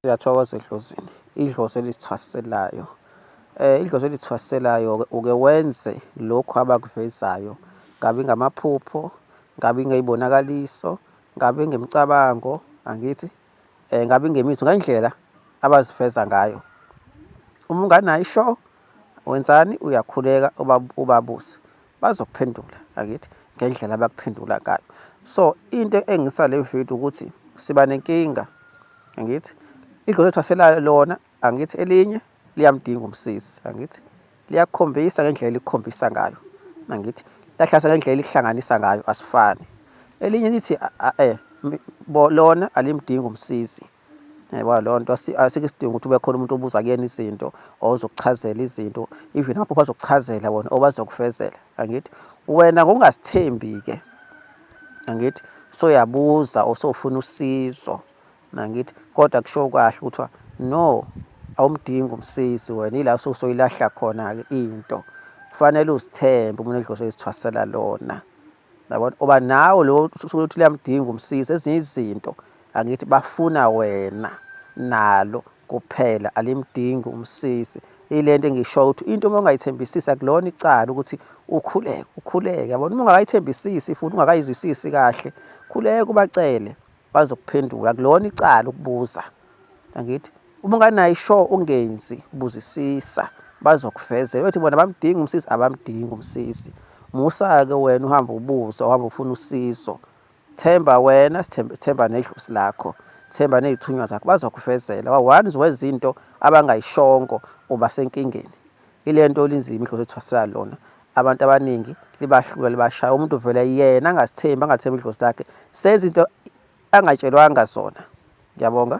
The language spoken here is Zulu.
Siyathokoza edlozini, idlozi elisithwaselayo. Eh idlozi elithwaselayo uke wenze lokhu abakuvezayo. Kabi ngamaphupho, kabi ngeyibonakaliso, kabi ngemicabango, angithi eh kabi ngemizwa ngendlela abaziveza ngayo. Uma unganayo isho wenzani uyakhuleka ubabuse. bazokuphendula akithi ngendlela abakuphendula ngayo so into engisa le video ukuthi siba nenkinga angithi idlo lethu aselala lona angithi elinye liyamdinga umsisi angithi liyakhombisa ngendlela elikhombisa ngayo angithi lahlasa ngendlela elihlanganisa ngayo asifani elinye lithi eh lona alimdingi umsisi yabona leyo nto asikho isidingo ukuthi ube khona umuntu obuza kuyena izinto or uzokuchazela izinto even apho bazokuchazela bona or bazokufezela angithi wena ngokungasithembi-ke angithi soyabuza or sofuna usizo nangithi kodwa kusho kahle kuthiwa no awumdingi umsizi wena yila sosoyilahla khona-ke into kufanele uzithembe umuntu edloso izithwasela lona yabona oba nawe lo ukuthi liyamdinga umsizi ezinye izinto angithi bafuna wena nalo kuphela alimdingi umsizi ilento engishoyo ukuthi into uma ungayithembisisi akulona icala ukuthi ukhuleke ukhuleke yabona uma ungakayithembisisi futhi ungakayizwisisi kahle khuleka ubacele bazokuphendula akulona icala ukubuza angithi uma unganayo ishow ungenzi buzisisa bazokuvezela uthi bona bamdingi umsisi abamdingi umsisi musa-ke wena uhamba ubuza uhamba ufuna usizo themba wena sithemba nedlusi lakho themba nezithunywa zakho bazokuvezela wa-one zowenza into abangayishongo uba senkingeni ilento linzima idlozi ethwasela lona abantu abaningi libahlula libashaya umuntu vele yena angasithembi angathembi idlozi lakhe senza into angatshelwanga zona ngiyabonga